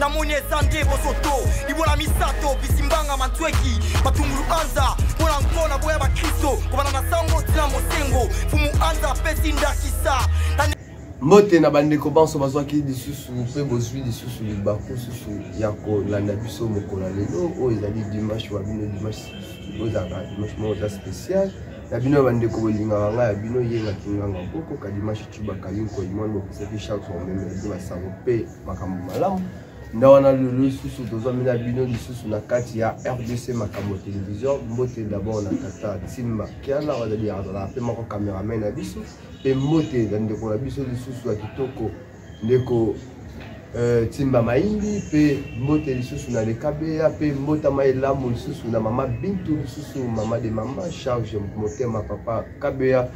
namoni eza nde bosoto libola misato bisimbanga mantweki matungulu anza mpo na nko na boya bakristo kobanda na sango tina mosengo fumu anza apesi ndakisa mbote na bandeko banso bazwaki lisusu mpe bozwi lisusu libaku susu ya kolanda biso mokolo ya lelo oyo ezali dimanche wa bino dimanche oyo ezalaka dimanche moko eza spécial na bino ya bandeko bolingaka ngai ya bino yengaki nganga koko kadimashe cubakali nkoyi mwana bokisaki charles omeme ya bino basango mpe makambo malamu nda wana lelo lisusu tozwami na bino lisusu na kati ya rdc makambo ya televizio mbote dabord na tata timba kiana wazali azalaka mpe moko cameraman na biso mpe mbote na ndeko na biso lisusu ya kitoko ndeko euh, timba maindi mpe mbote lisusu na lekabeya mpe mbotama elamu lisusu na mama bintu lisusu mama de mama charge motema papa kabeya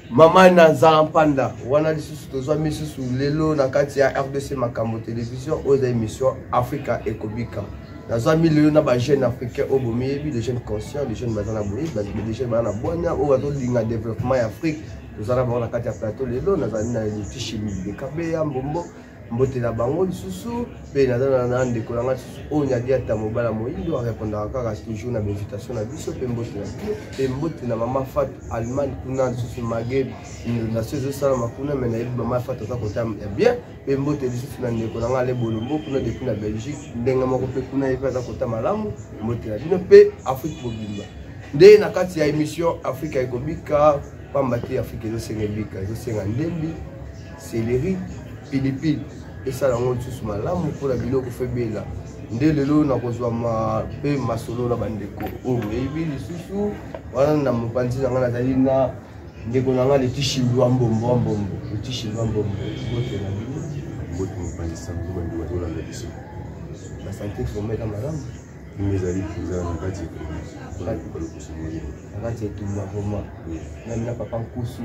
mama naza mpanda wana lisusu tozwa misusu lelo na kati ya rdc makambo television oyo eza émission africa ekobika nazwami lelo na bajeune africain oyo bomiyebi de jeune conscient de jeune baza na boyebi de jeune baza na bwania oyo bazolinga développement ya afrique tozala bango na kati ya plateau lelo nazali na litishi de kabeya mbombo mbote na bango lisusu mpe naza na ndeko na ngai lisusu oyo nyadi ata mobala moindo arepondaka kaka toujours na bainvitation na biso mpe mbote na biso mpe mbote na mama fatu allemagne kuna lisusu mage inondation ezosalama kuna me nayebi mama fatu aza kota ya bien mpe mbote lisusu na ndeko na ngai ale bolombo kuna depuis na belgique ndenge moko mpe kuna ye mpe aza kota malamu mbote na bino mpe afrique mobimba nde na kati ya émission afrika ekobika pamba te afrika ezosenga ebika ezosenga ndembi seleri pilipili esala yango lisusu malamu mpona biloko febela nde lelo nakozwa mpe masolo na bandeko oyo boyebi lisusu wana na mopanzi na ngai nazali na ndeko na ngai letishi lwa mbombo wa mbombo letishi lwa mbombo bote na bino bote mopangisa mbuma ndima tolanda biso basante vraimen eza malamu ezali mpenza na kati ya na kati ya etumba vrema nami na papa nkusu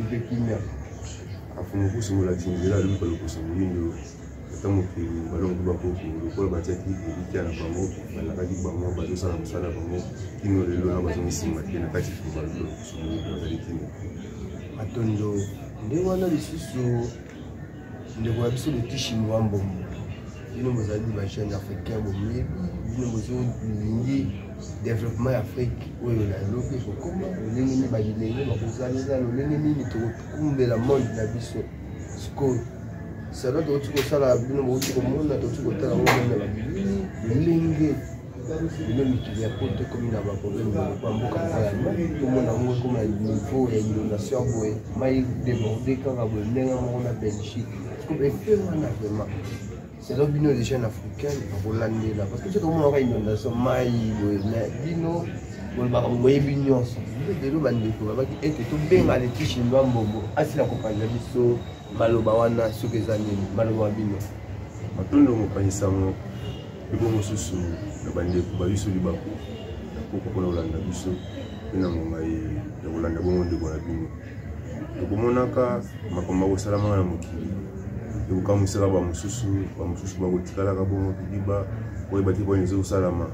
mpe kimia afunga nkusu molakisi nzela alobi kalokosa moyindo ata mokili balongi bakoko lokola batiaki elikya na bango balakaki bango bazosala mosala bango kino lelo na bazongi nsima te na kati funga lokosa moyindo azali kino matondo nde wana lisusu ndeko ya biso leki chinois mbongo bino bozali ba jeune africain boyebi bino bozolingi développement ya afrique oyo na eloki ekokoma lolenge nini babilenge bakozalela lolenge nini tokokumbela monde na biso sikoyo sala tokoki kosala bino bokoki komona tokoki kotala ngo na babilini lolenge lelo mikili ya poto ekomi na baproblème ba mboka moko ya mai tomona yango ekoma niveau ya inondation boye mai déborde kaka boye ndenge moko na belgique epe wana vraiment selo bino les jeunes africaine akolandela parce que soki omonaka inondation mai boye na bino bolobaka boyebi nyonso lelo bandeko babaki ete tobenga leti chinois mbombo asila kopanza biso maloba wana soki eza nini maloba bino matondo mopanzi sango Biko mosusu na bandeko ba biso libaku na koko mpona kolanda biso mpe na ngonga ya kolanda bongo ndeko na bino tokomonaka makambo makosalamaka na mokili ekokamwisaka bamosusu bamosusu bakotikalaka bongo bidiba koyeba te mpona eza kosalama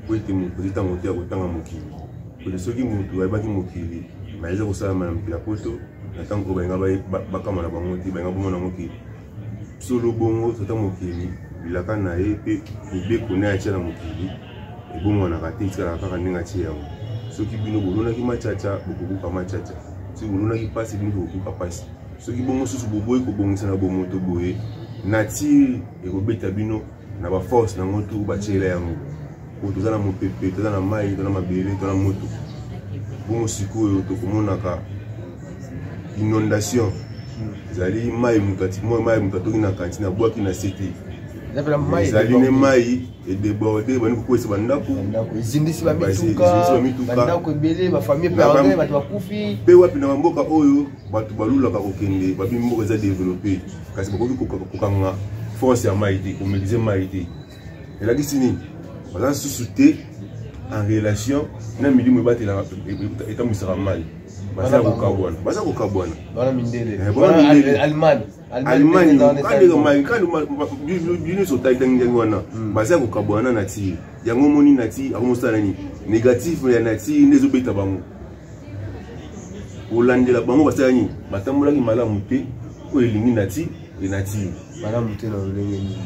mpo ete moto ezi ntango te ya kotanga mokili mpete soki moto ayebaki mokili ma eza kosalama na mokili ya poto na ntango oyo balinga bakama na bango te balinga bomona yango ke solo bongo tata mokili bilaka na ye mpe mibeko na ye atya na mokili ebongwanaka te etikalaka kaka ndenge atye yango soki bino bolonaki macaca bokobuka macaca soki bolonaki mpasi bino bokobuka mpasi soki bongo mosusu boboyi kobongisa na bomoto boye natire ekobeta bino na baforce na yango tu batiela yango oyo toza na mopepe toza na mai toza na mabele toza na moto bongo sikoyo tokomonaka inondation ezali mai moto atimoyo mai moto atoki na kantine abwaki na sete ezali ne mai edeborde bani kokwesa bandako ezindisi bamitukabandako ebele bafamille pe bato bakufi mpe wapi na bamboka oyo bato balulaka kokende babi mboka eza developpe kasi bakoki kokanga force ya mai te komelise mai te elakisi nini baza susu te en relation na milimo ebatelaka etambwisaka mai baza kokabwana baza kokabwana allemagne nyonso otangitangi wana hmm. baza kokabwana na tir yango omoni na tir akomosala nini négatif ya na tir nde ezobeta bango kolandela bango basala nini batambolaki malamu te oyo elingi nati enatire malamu te na lolenge nini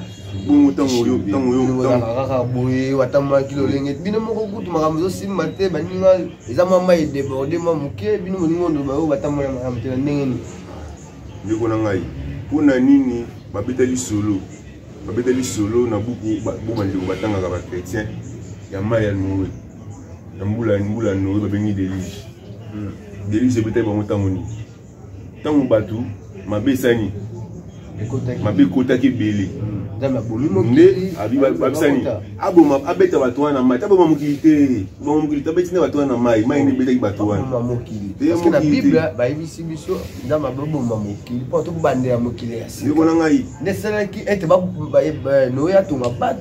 bongo ntango oyo ntango oyokaka boye watambolaki lolenge bino moko kutu makambo ezosimba te baninga eza mwa mai edeborde mwa moke bino boninga ondoba oyo batambola malamu te na ndenge nini ndeko na ngai mpo na nini babetali solo babetali solo na buku bo bandeko batangaka bakretien ya mai ya noe na mbula mbula noe babengi deluge hmm. deluge ebetaki bango ntango nini ntango bato mabe esani mabe ekotaki ebele hmm. nde abisani aboma abeta bato wana mai aboma mokili te boma mokili te abeti nde bato wana mai mai nde ebetaki bato wana bayebisi biso nzambe aboboma mokili mpo tokobandela mokili ya sika ndeko na ngai nde esalaki ete noye atonga bato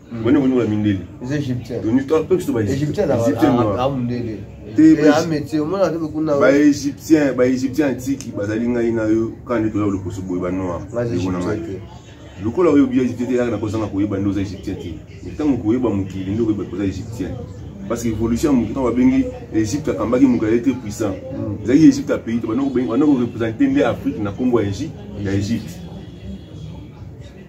bone koni ba mindele les égyptiens toni to pe kiso ba égyptiens na ba mindele te ba métier omona te kuna ba égyptiens ba égyptiens antique bazali ngai na yo kande toza lokoso boye ba noir ekona ngai lokola oyebi ya égyptien te yaka na kozanga koyeba nde oza égyptien te ntango koyeba mokili nde okoyeba koza égyptien parce que évolution ya mokili ntango babengi égypte akambaki mokili ayete puissant mm. ezalaki égypte ya pays te banda korepresente nde afrique na nkombo ya égypte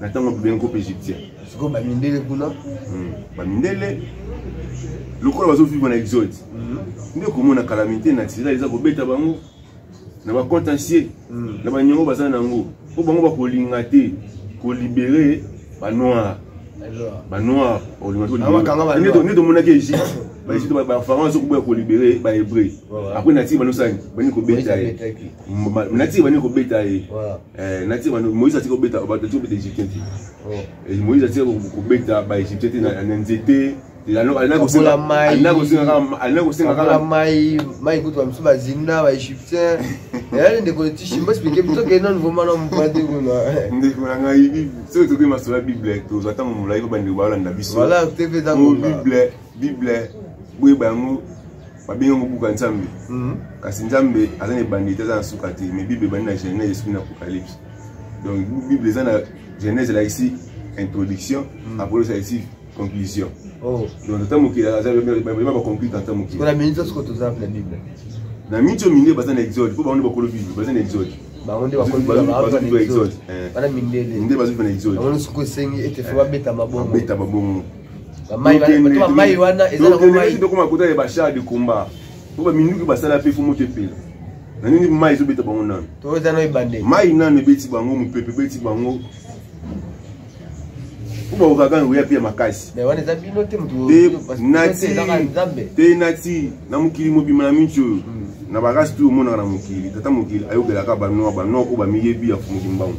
na ntango ya bobele groupe égyptien sikoyo bamindele kuna hmm, bamindele lokola bazovivre na exode hmm. nde komona calamité naturelle eza kobeta bango na bacontentieux hmm. na baniongo baza na yango mpo bango bakolinga te kolibere banoir banoir nde tomonaki egypte baegypte bafarao azokoboya kolibere bahébreu apres natiki banosani bani kobeta ye natiki bani kobeta ye Eh, nati moïse atika kobeta bato atika kobeta égyptien te oh. eh, moïse atika kobeta baégyptien te na nzete alina kosenga kaka mai mai kutu bamisu bazinda baégyptien eyali ndeko letishi mbasipike toke nanu vraimen na mokwa te kuna ndeko na ngai soki tokoki masolo ya bible tozwa ntango molai mpo bandeko balanda biso bible bible boyeba yango babengi yango buku ya nzambe mhm. kasi nzambe aza na ebandi te aza na suka te mais bible ebandi na genèse esuki na apocalypse donc bible eza na genèse elakisi introduction mhm. apocalypse elakisi conclusion oh. donc tata mokili azabema baconclure tata mokili na miniti oyo minde baza na exode mpo bango nde bakolo bible baza na exode bango nde bakolobande bazwi na exode yango nde soki esengi ete fo babeta mabongo bamai wana ezakoma kota ya bashar de combat po baminduki basala mpe fomo te pela na nini mai ezobeta bango nano mai nano ebeti bango mopepe ebeti bango po baokaka oya mpe ya makasi te nati na mokili mobima na minci oyo hmm. na barasi tu omonaka na mokili tata mokili ayobelaka banoa banoa oyo bamiyebi ya mokili mbango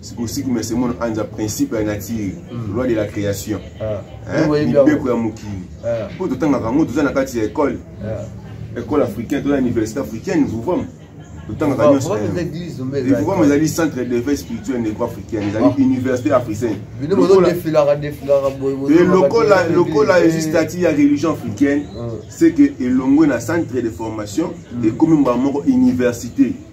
sikosiki mese mono anza principe ya nature hmm. loi de la création ah. eh, mibeko ya mokili ah. mpo totangaka yango toza na kati ya école ah. école africaine toza na université africaine vuvama totangaka nyonso vuvama ezali centre d'éveil spirituel negro africaine ezali université africaine lokola ezwi statut ya religion africaine c'est que elongwe na centre de formation hmm. ekomi mbala moko université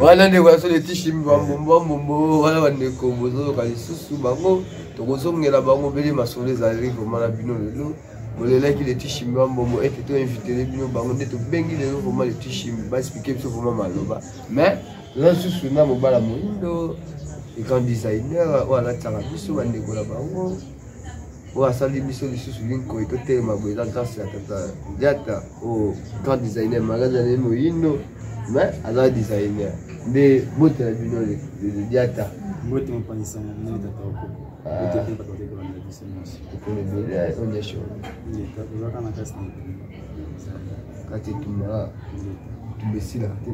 wana ndeko ya solo tishimi bambombo wana bandeko bozoyoka lisusu bango tokozongela bango bele masolo ezali vraimen na bino lelo bolelaki letishimi bambombo ete toinvitele bino bango nde tobengi lelo vraimen letishimi baexplike biso vraimen maloba mais toza lisusu na mobala moindo ekan designer oyo alataka biso bandeko na bango oyo asali biso lisusu linkoi totelema boye eza grâce ya tata diata oyo grand designer magazi ya nini moyindo mais aza designer nde bote na bino diata mbote mopanzisa na bino tata oko ekolo ebele onyesho kati etumaka tumesila te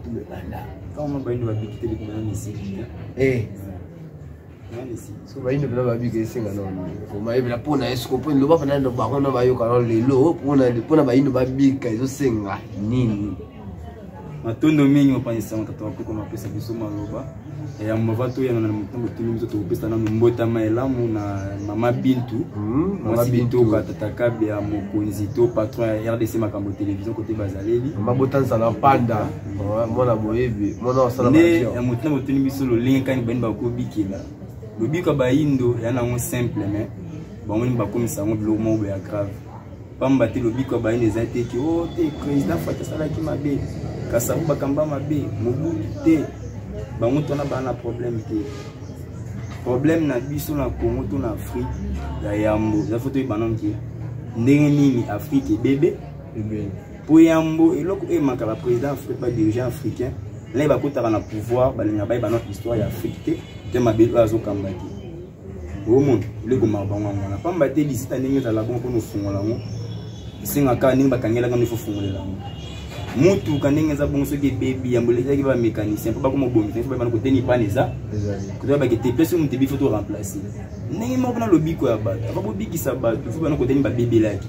tumebanda kama bayindo babikiteli kuna na misiki so bayindo mpena babika esenga naomayebela mpo na esiko mpo eloba mpena ndo bango na bayoka na lelo mpo na bayindo babika ezosenga nini matondo mingi mopanzisa matata bakoko mapesa biso maloba ya mbava toyana na motango tuni biso tokopesa nano mbotama elamu na mama bintu hmm, mwasi bintoka tata kabe ya mokonzi to patron ya rdc makambo télévision kote bazaleli mabota nzala panda mwana boyebi mwana osala nde ya moto na botuni biso lolenge kani bani bakobikela lobiko ya bayindo ya nango simple mais bango nini bakomisa yango biloko moko boya grave pamba te lobiko ya bayindo eza te ki o oh, te président fati asalaki mabe kasabu bakamba mabe mobutu te bango tona baa na problème te problème na biso na congo to na afrique ya yambo eza fo toyebana mke ndenge nini afrique ebebe mpo yambo eloko oyo emaka baprésident badirigeant africain naye bakotaka na pouvoir balinga baye banoko histoire ya afrique te te mabele oyo azokamba te omona eloko maka bango yango wana mpamba te lisita ndenge ezala bongo mpona ofungola yango esengaka ndenge bakangelaka nde fofungolela yango motuka ndenge eza bongo soki ebebi yambo elekaki bamécanicien mpo bakoma obongisa soki bana koteni bana eza kotoya bakete place moto ebi fo to remplace ndenge moko mpona lobiko ya bato aka bobikisa bato fo bana koteni babebelaki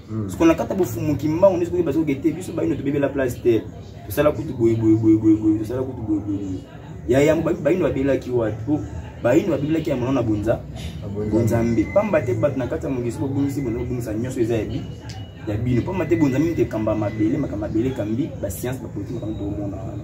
hmm. soko na kata bofumu kimbangu nde sokoki basoki te biso bayino tobebela place te tosala kutu boye boye boye boye boye tosala kutu boye boye boye ya yango bayino babelaki wapi po bayini babimilaki ya mono na bonza bonzambe mpamba te bato na kati ya mokili soki bobungisi bonza bobungisa nyonso eza ya bi ya bino mpamba te bonzambe mite ekamba mabele makambo mabele ekambi basianse bapolitiki makambo tokomona wana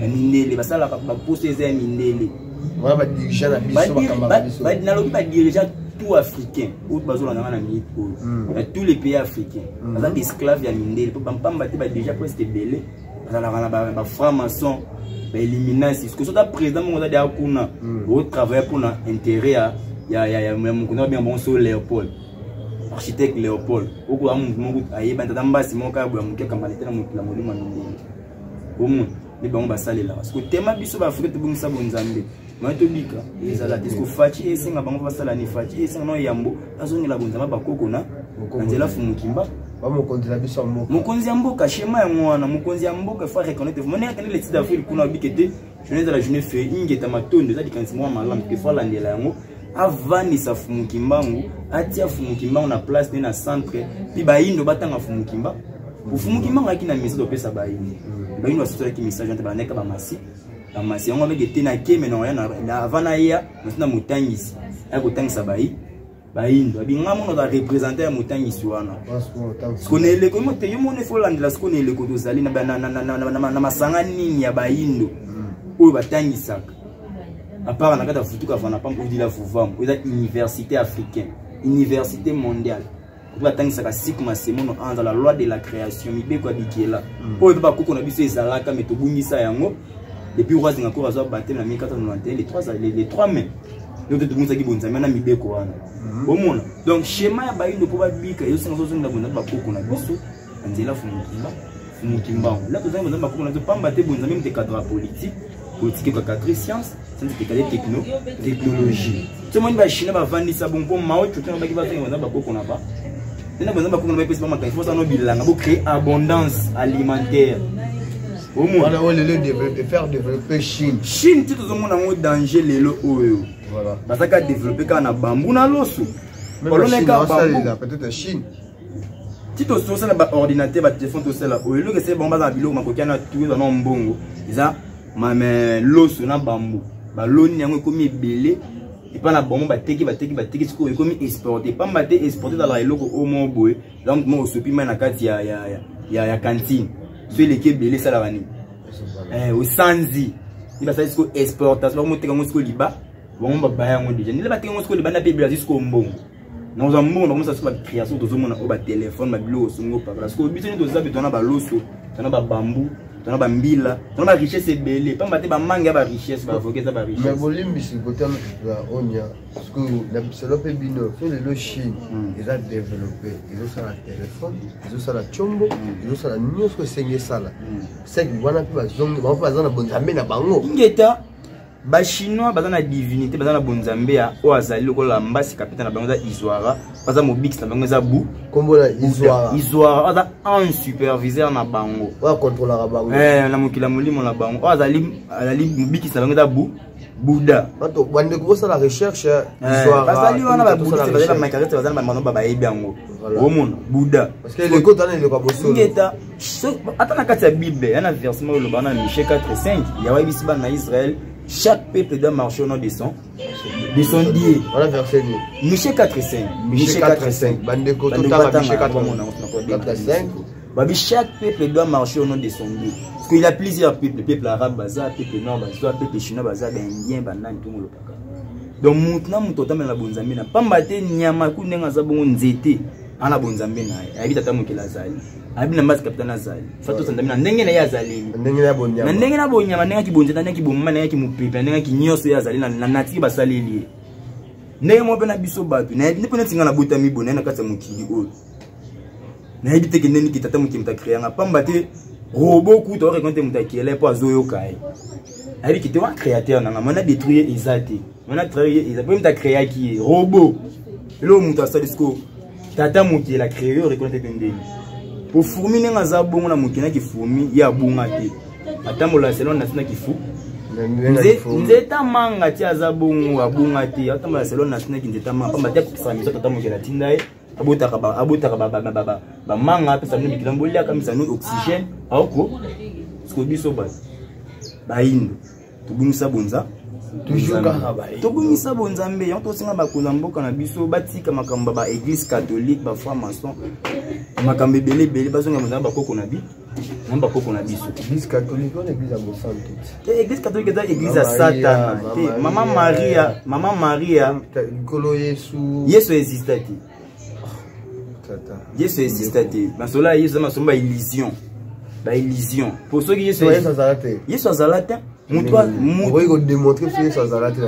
na mindele basalaka baposa eza ya mindele nalobi badirigeant tout africain oyo bazolanda nga na minute oyo na hmm. tous les pays africains hmm. baza baesclave ya mindele mpo bampamba te badirigea presque ebele bazalaka na bafranc maçon baeliminasi soki ota président moko oza deya kuna hmm. otravaille mpona intérêt ya mokunda babenga bango so léopold architecte léopold okoya motu moko ayebani tata mbasi moko kaya boya moke akambanete na mokila molimo ya mindele omoni nde bango basalelaka siko tema biso baafrika tobongisa bonzambe mai tobika ezala te siko faci esenga bango basala ni faci esenga nao yambo azongela bonzambe bakoko na nzela fumukimba mokonzi na biso ya mboka mokonzi ya mboka shema yango wana mokonzi ya mboka fa reconnaitre vraiment ndenge akende leti d'afril kuna abike te journée ezala journée fe ingeta matondo eza likanisi moko malamu te fo alandela yango avandisa fumu kimbangu atia fumu kimbangu na place nde na centre mpe bayindo batanga fumu kimbangu fumu kimbangu ayaki na message opesa bayindo bayindo basosolaki message ante bandeka bamasi bamasi yango ameke te na keme na oya avant naya nasi na motangisi aya kotangisa bayi bayindo abinga mono ba representant ya motangisi wana siko na eleko mote yo mono efo landela siko na eleko tozali na masanga nini ya bayindo hmm. oyo batangisaka apara na kati ya futuka vana pampo odila vuvam oyo eza université africaine université mondiale oyo batangisaka siku masemono anza la loi de la création mibeko ya bikela hmm. oyo mpe bakoko na biso ezalaka me tobungisa yango depuis roi zingakour azwa batele na 1491 les trois les, les trois mains donc totumisaki bonzambe na mibeko wana mhm. omona donc schéma ya bayindo mpo babika ezosenga tozongela bonzambe bakoko na biso na nzela fumukimba fumukimbango la tozangi bonzambe bakoko na biso pamba te bonzambe mtekadra politique politique ekaka christiance sanza tekale techno technologie tomoni bachina bavandisa bongo mpo mao cotana baki bazonga baza bakoko na ba nena baza bakoko na ba epesi bamakanisi mpo zano bilanga bo créer abondance alimentaire omona oyo lelo faire développer chine chine ti tozomona yango danger lelo oyo baza ka développer kaka na bambu na loso baloneka bambu peut-être chine ti tosala baordinateur batelefone tosala oyo eloko esali bango baza na biloko makoki ana tuyo zana mbongo eza mame loso na bambu baloni yango ekomi ebele epa na bango bateki bateki bateki sikoyo ekomi exporte pamba te exporte ezalaka eloko oyo moko boye donc moko osopi mai na kati ya, ya, ya, ya, ya cantine so eleki ebele esalaka nini eh, osanzi ni basali sikoyo exportation bakomoteka yango sikoyo liba bango babaya yango deja ndele bateka yango sikoyo liba na mpe ebele azwi sikoyo mbongo na oza mbongo na komisa so ba création tozo mona o ba téléphone ba biloko songo pa parce que biso ni toza bi tona ba loso tona ba bambou tona ba mbila tona ba richesse ebele pamba te ba mangue ya ba richesse ba avocat za ba richesse mais bolimbisi kotana ya onya parce que na biselo pe bino fe le lo chine hmm. eza développer ezo sala téléphone ezo sala chombo hmm. ezo sala nyoso esenge sala hmm. c'est que wana pe bazongi ba pa za na bonzambe na bango ingeta bachinois baza na divinité baza na bonzambe ya oyo azali lokola mbasi kapita na bango eza izuara baza mobikisi na bango eza bu kombola izuara izuara aza un superviseur na bango oyo akontrolaka bango eh, na mokili ya molimo na bango oyo azali azali mobikisi na bango eza bu buda bato bandeko bosala recherche eh, eh, bazali wana babudiste bazali bamakarete bazali bamano babayebi yango omona buda parce que eleko tana eleko ya bosolo so ata na kati ya bible ya na verse moko eloba na miche 4 5 yawe ayebisi bana na israel chaque peuple doit marcher au nom de son de son dieu voilà verset nini miche 4 5 miche 4 5 bandeko totanga miche 4 5 babi chaque peuple doit marcher au nom de son dieu parce qu'il y a plusieurs peuples peuple arabe baza peuple nord baza peuple chinois baza baindien banani ntongo lopaka donc moto na moto otamela na bonzambe na mpamba te nyama ku ndenge aza bongo nzete ana bonzambe na ye ayebi tata mokili azali ayebi na mbasi kapitani azali fa tosandami na ndenge na ye azaleli na ndenge na bonyama ndenge ya kibonza na ndenge ya kibomama na ndenge ya kimupepe na ndenge ya kinyonso ye azali na natiki basaleli ye ndenge moko mpe na biso bato nayebi nde mpo neti ngai nabotami boye naye na kati ya mokili oyo nayebi te kende niki tata mokili moto akreanga mpamba te robo kuta orekonte moto akele mpo azoyoka ye ayebi kete wana créateur nanga mwana détruire eza te mwana travaille eza mpe moto acréaki ye robot eloko moto asali sikoyo tata moto yela créer yo reconnaître mpe ndenge po fourmi ndenge aza bongo na moto na kifourmi ye abunga te atambola selon nasi na kifu nzeta manga ti aza bongo abunga te atambola selon nasi na kinzeta manga pamba te akokisaka miso tata moto yela tinda ye abotaka ba abotaka ba ba ba ba manga pesa mino mikila mbolia kamisa no oxygène aoko siko biso ba bayindo tobungisa bonza tobungisa bonzambe yango tosenga bakonzi ya mboka na biso batika makambo ya baeglise catholique bafranc maçon makambo ebele ebele bazonga bonzambe bakoko na bi na bakoko na biso église catholique wana église ya mosali te eh, église catholique eza église ya satana te mama maria mama maria likolo yesu yesu exista te yesu exista te masolo ya yesu eza masolo ba illusion ba illusion po soki yesu azala te yesu azala te okoki kodemontre so yesu azala te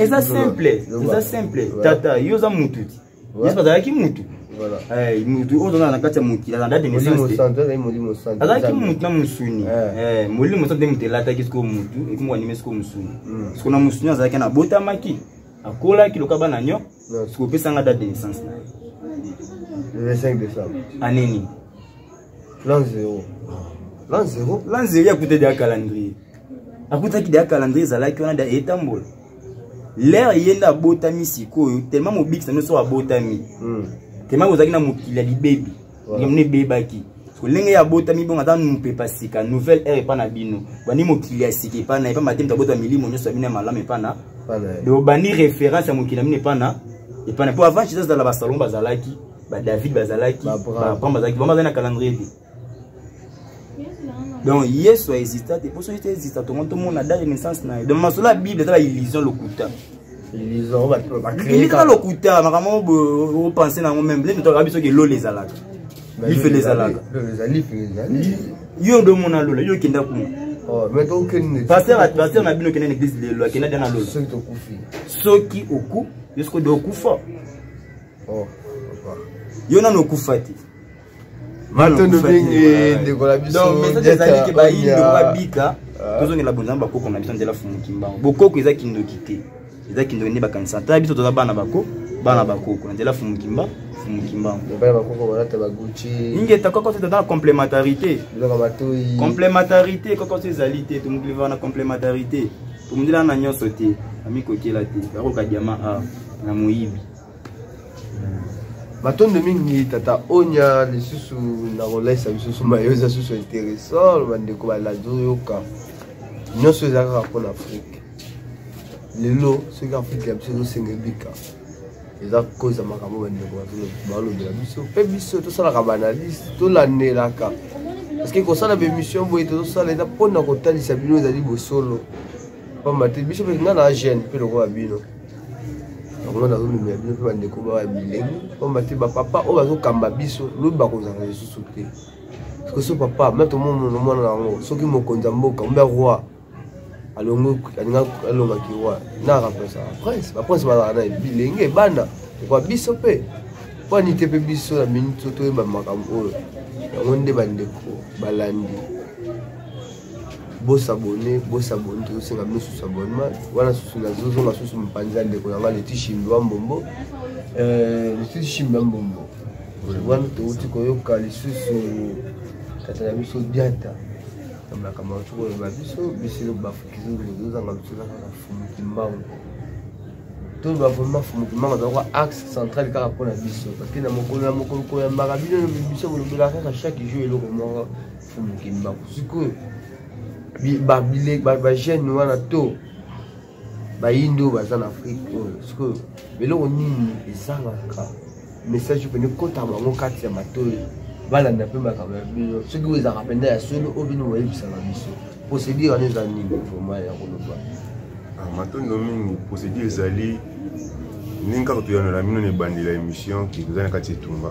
eza simple eza simple tata yo oza motu te yesu azalaki mutu eh, mutu oyo ozana na kati ya mokili aza date naissanceazalaki mutu na mosuni eh. Eh, molimo mosantu nde moto elataki sikoyo mutu ekomoko anime sikoyo mosuni hmm. siko na mosuni azalaki na abotamaki akolaki loka bana nyo siko opesanga date de naissance na ye 25 décembre année nini plan zero plan zero plan zero akutaki deya calendrier akutaki deya calendrier ezalaki wana deya etambola lere ye nde abotami sikoyo tellement mobikisi na biso abotami hmm. tellement ozalaki na mokili ya libebi ngamona ebebaki lolenge ya botami bongo aza mopepa sika nouvelle heure epa na bino bandi mokili ya sika epa na epa matemi tabota milimo nyonso ya bino ya malamu epa na donc bandi référence ya mokili na bino epa na epa na mpo avant jesus azala basalon bazalaki badavid bazalaki babraham bazalaki bama azali na calendrier te donc yesu aexista te mpo soki te exista tongo tomona date de naissance na ye donc masolo ya bible eza ba illusion lokuta eza lokuta makambo opense nango meme lende toyaka biso ke lola ezalaka lifele ezalaka yo nde omona lola yo okenda kuna oh, paster na bino okenda na eglise lelo akenda de na lola soki oku yo soki ode okufa oh, yo nano okufa te matondo mingi ndeko na biso message ezali ke bayindo babika ah. tozongela bonzambe bakoko na biso nzela fumu kimbango bokoko eza kindoki te eza kindoki nde bakanisa ta biso toza bana bako bana bakoko na nzela fumu kimbango ingeta koko te toza na complémentarité complémentarité koko te ezali te tomokili vaa na complémentarité tomondela na nyonso te amikokela te bakoka diama a na moyibi matondo mingi tata onya lisusu na kolaisa bisusu mayo eza susu interessant bandeko balandi oyoka nyonso eza kaka mpo na afrike lelo soki afrike ya biso ezosenge bika eza koza makambo bandeko balobela biso mpe biso tosalaka baanalyse tolandelaka parceke kosala baémission boye tozosala eza mpo na kotalisa bino ezali bosolo mpamba te biso mpe nga na gene mpe lokola bino yango nazomemela bino mpe bandeko bawa ya bilenge mpamba te bapapa oyo bazokamba biso lobi bakozala lisusu te parceke so papa me tomomono mwana na yango soki mokonzi ya mboka mbe roi alongaki roi na remplace baprince baprince bazala na bilenge bana ekwa biso mpe mpo anite mpe biso na minute toyeba makambo oyo yango nde bandeko balandi bosabone bosabone tozosenga bino susu abonnement wana susu nazozonga susu mopanzi ya ndeko na ngai leti shimbi wa mbombo euh, leti shimbi wa mbombo wana touti koyoka lisusu tata na biso diata na makambo yango tokoloba biso biso bafukizozanga biso kaka fumuki mbango toloba vraimen fumuki mbango azalaka axe central kaka mpo na biso parce que na mokolo na mokolo koyambaka bino biso kolobelaka kaka chaque jour eloko moko fuluki mbangu sikoyo bagene wana to bayindi oyo baza na afrike oyo sikoyo eloko nini ezangaka message mpe ekota bango kati ya matoi balanda mpe makambo ya bino soki oyo ezalaka mpenza ya solo oyo bino boyebisaka biso procédure wana eza nini vraimen ya koloba ah, matondo mingi procédure ezali ndenge kaka toyanolaa bino na ebandela émission toza na kati etumba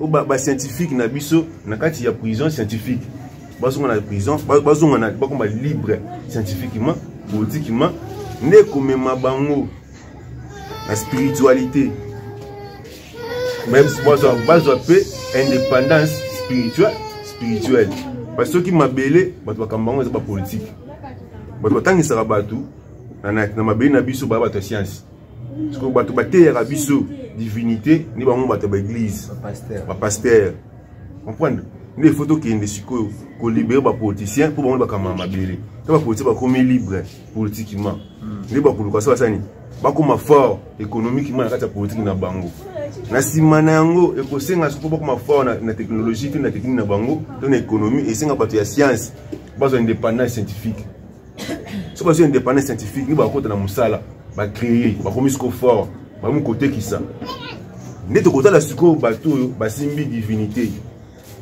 o ba, ba scientifique na biso na kati ya prison scientifique bazonga na prison bazonga na bakoma libre scientifiquement politiquement nde komema bango na spiritualité bazwa mpe indépendance spirituelle spirituelle parce que soki mabele bato bakamba yango eza bapolitike bato batangisaka bato na mabele na biso baya bato ya siansi sikoyo bato bateyaka biso divinité nde bango bato ya baeglise bapaster comprendre nde ifo tokende sikoyo kolibere bapoliticien mpo bango bakamba mabele to bapoliticien bakomi libre politiquement hmm. nde bakoluka so basani bakoma fort économiquement na kati ya politike na bango na nsima na yango ekosenga soko bakoma fort na, na technologie to na technique na bango to na économie esenga bato ya science bazwa indépendance scientifique soki bazwi indépendance scientifique nde bakota na mosala bacreye bakomi siko fort bakomi kotekisa nde tokotala sikoyo bato oyo basimbi divinité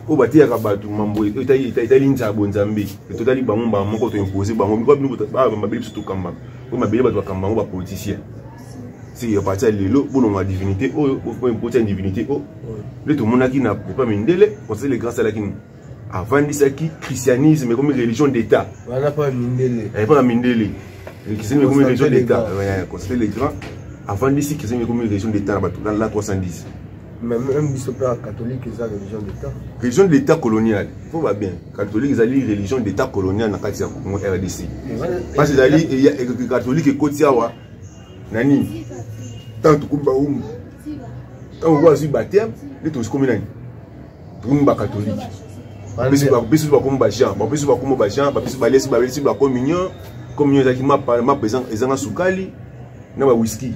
oyo bateyaka bato mambo etali nzala bonzambe totali bango mbaa moko toimpose bango biko bino mabele biso tokamba oyo mabele bato bakamba yango bapoliticien si ya parti ya lelo bolonga divinité oyo boimpose ya divinité oyo nde tomonaki na epa mindele conseil le grand salaki avandisaki christianisme ekomi religion d'état wana mpo ya mindele eh, mpo ya mindele christianisme ekomi religion d'état constater le grand avandisi christianisme ekomi religion d'état na bato na 310 même biso mpe catholique eza religion d'état religion d'état coloniale fo ba bien catholique ezali religion d'état coloniale na kati ya congo rdc parce ezali catholique ekoti awa na nini ntango tokomi bawumbu ntango oyo azwi bateme nde tozikomi nani bino ba catholique biso bakomi ba jean biso bakomi ba jean biso balesi balesi ba communion communion ezalaki mapa mapa ezanga sukali na ba whisky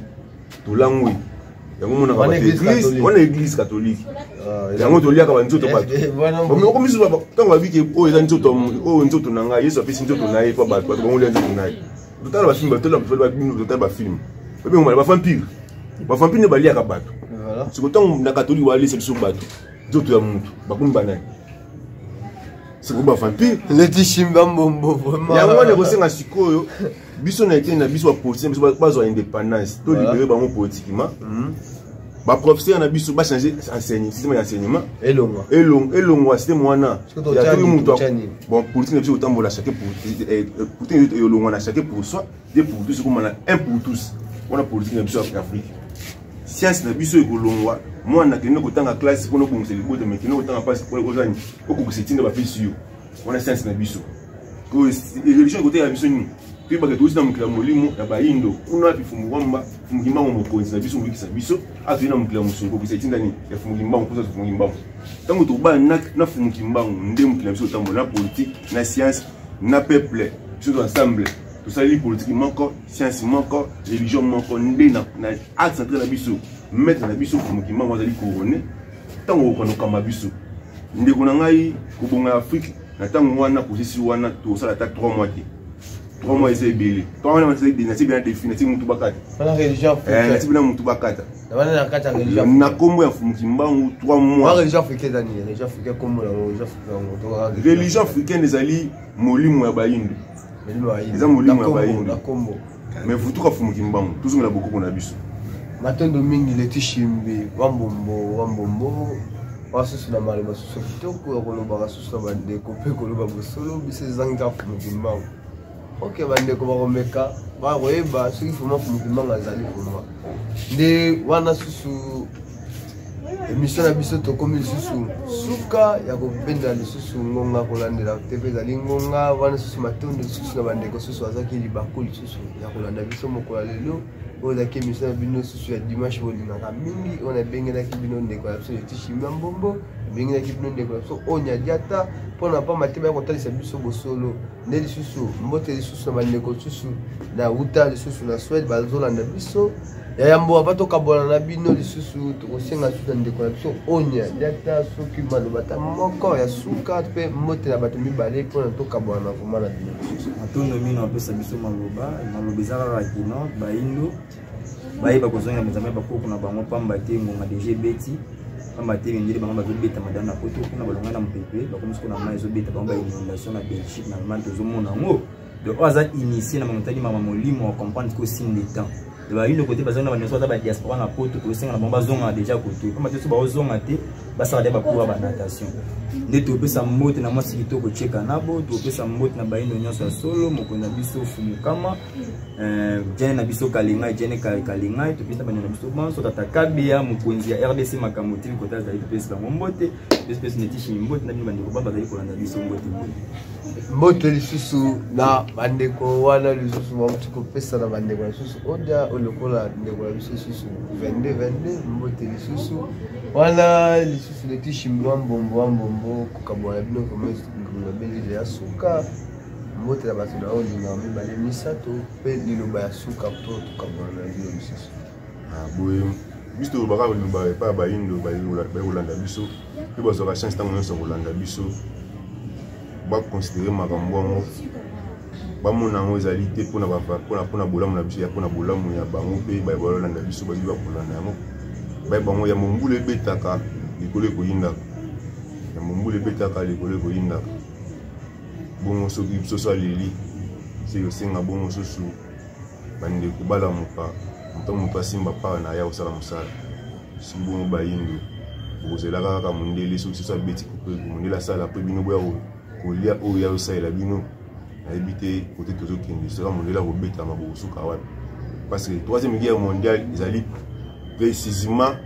tolangwi yango monaka wana église catholique ah, yango toliaka banzoto batomoko misusu ntango babiki oyo eza nzoto oyo nzoto na ngai yesu apesi nzoto na ye mpo bato bango lia nzoto na ye totala bafilme batala babino totala bafilme babengomana bavampire bavampire nde baliaka bato siko ntango na katolike balesa biso bato nzoto ya motu bakomi banani siko bavampire leti shimba mbombo vraimen yango wana ekosenga sikoyo biso na eteni na biso bapolitien biso bazwa indépendance to libere bango politiquement mhm. ba professeur na biso ba changer enseignement système ya enseignement elongwa elongwa elongwa système wana ya tout mutu bon politique na biso otambola chaque pour eh, eh, politique elongwa na chaque pour soi de pour tous comme na un pour tous wana politique na biso ya Afrique science na biso ekolongwa mwana akende kotanga classe mpona obongisa libota mekende kotanga mpasi ozani okokisa etinda bapesi yo wana science na biso oyo religion ekoteyela biso nini toyebaka touti na mokili ya molimo ya bayindo kuna api fumukimbango fumukimbango mokonzi na biso moyikisa biso atoi na mokili ya mosuni kokisa etinda nini ya fumukimbango mposa fumukimbango ntango tobana na fumukimbango nde mokili na biso otambola na politike na science na peuple biso to ensemble tosaleli politiki moko science moko religion moko nde na axe central na biso maître na biso fumukimbango azali couronne ntango okanokamba biso ndeko na ngai kobonga ya afrike na ntango wana posisi wana tosala ata 3 mois te 3 mois eza ebele ntango wana nasi bena defi nasi motu bakata eh, nasi bena motu bakata na nkombo ya mukimbangu 3 moisreligion africaine ezali molimo ya bayindo eza molimo ya bayini mais vutuka fumuki mbangu tozongela bokoko na biso matondo mingi leti shimbi wambombo wambombo basusu na maloba basusu kitoko ya kolobaka susu na bandeko mpe koloba bosolo biso ezangi kaka fumuki mbangu ok bandeko bakomeka bakoyeba soki fuma fumuki mbangu azali fuma nde wana susu emission na biso tokomi lisusu suka ya kobenda lisusu ngonga kolandela te mpe ezali ngonga wana lisusu matondo lisusu na bandeko lisusu azaki libaku lisusu ya kolanda biso mokolo ya lelo oyo ezalaki emission na bino lisusu ya dimanche bolingaka mingi oyo nabengelaki bino ndeko ya biso letishimia mbombo nabengelaki bino ndeko ya biso oyo nyadiata mpo na mpamba te baya kotalisa biso bosolo nde lisusu mbote lisusu na bandeko lisusu na uta lisusu na swede bazolanda biso ya yambo ava tokabwana na bino lisusu tokosenga lisusu na ndeko na biso onya nde ata soki maloba ata moko ya suka mpe mbote na bato mibale mpona tokabwana na vrema na bino lisusu matondo mino apesa biso maloba maloba eza kaka kino baindo bayeba kozongela mizama ya bakoko na bango mpamba te ngonga deja ebeti mpamba te mindele bango bazobeta madame na poto kuna balongai na mopepe bakomi soko na mai ezobeta bango ba inondation na belgique na allemagne tozomona yango donc oyo aza initie na mamontaki mama molimo acomprendre ko signe de temps bayino kote bazonga na baneso aza badiaspora na poto tokosenga na bango bazonga deja kote mpamba te so baozonga te basala de bacour ya banatation nde topesa mbote na mwasi kitoko cheka nabo topesa mbote na bayino nyonso ya solo mokonzi na biso fumukama jene eh, na biso kalingai jene kalingai topesa bana na biso banso tata kabia mokonzi ya rdc makambo tili kota azali topesi bango mbote pesipesi netishimi mbote na bino bandeko ba bazali kolanda biso mbote mbote lisusu na bandeko wana lisusu bauti kopesa na bandeko na lisusu odia olokola ndeko na biso lisusu 22 22 mbote lisusu wana lisusu netishimi wa mbombo wa mbombo kokabwana bino komesi ngulu na belile ya suka mbote na bato na oyo lingaka mibale misato mpe liloba ya suka mpo tokabola na bino lisusu ah, boye biso tolobaka koloba epai ya bayindo baye kolanda biso mpe bazwaka chance ntango nyonso kolanda biso bakonsidere makambo yango bamona yango ezali te mpona bolamu na biso ya mpona bolamu ya bango mpe baye balolanda biso bayebi bakolanda yango baye bango ya mombula ebetaka likolo ekoyindaka ya mombula ebetaka likolo ekoyindaka bongo soki bisoso aleli se osenga bongo susu bandeko balamuka moto moto asimba mpaka na ye akosala mosala soki bongo bayindo bokozelaka kaka mondele soki susu abeti kupe mondele asala mpe bino boya kolia oyo ya osalela bino nayebi te kote tozokende soka mondele akobetama bokosuka wapi parce que troisième guerre mondiale ezali precisement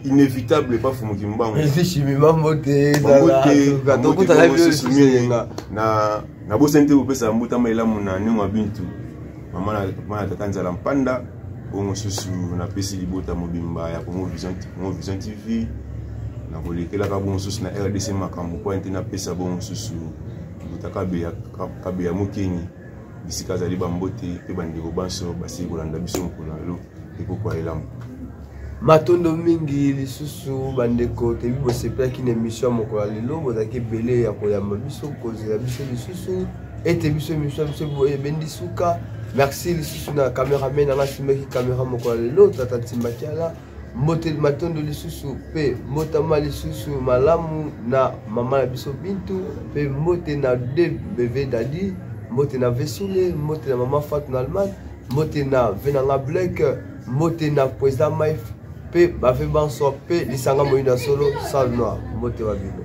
inévitable epa fumuki mbango nabosani te kopesa mbotama elamu na ndenge ya bintu mama na tata nzala mpanda oyo mosusu napesi libota mobimba ya congo vision tv nakolekelaka bo mosusu na rdc makambo mpo ete napesa bo mosusu mbota kabeya mokeni bisika azali bambote mpe bandeko banso basili kolanda biso mokolo na lelo ekoko ya elamu matondo mingi lisusu bandeko toyebi bosepelaki na emission ya mokolo ya lelo bozalaki ebele ya koyamba biso kozela biso lisusu ete biso emission ya biso ebendi suka merci lisusu na cameraman anga asimbaki camera mokolo ya lelo tata ntimbakiala mbote matondo lisusu mpe mbotama lisusu malamu na mama na biso bintu mpe mbote na dbv dadi mbote na vesule mbote na mama fatu na allemagne mbote na venanga blek mbote na président maif mpe bave banso mpe lisanga moyina solo sal noir mbote wa bino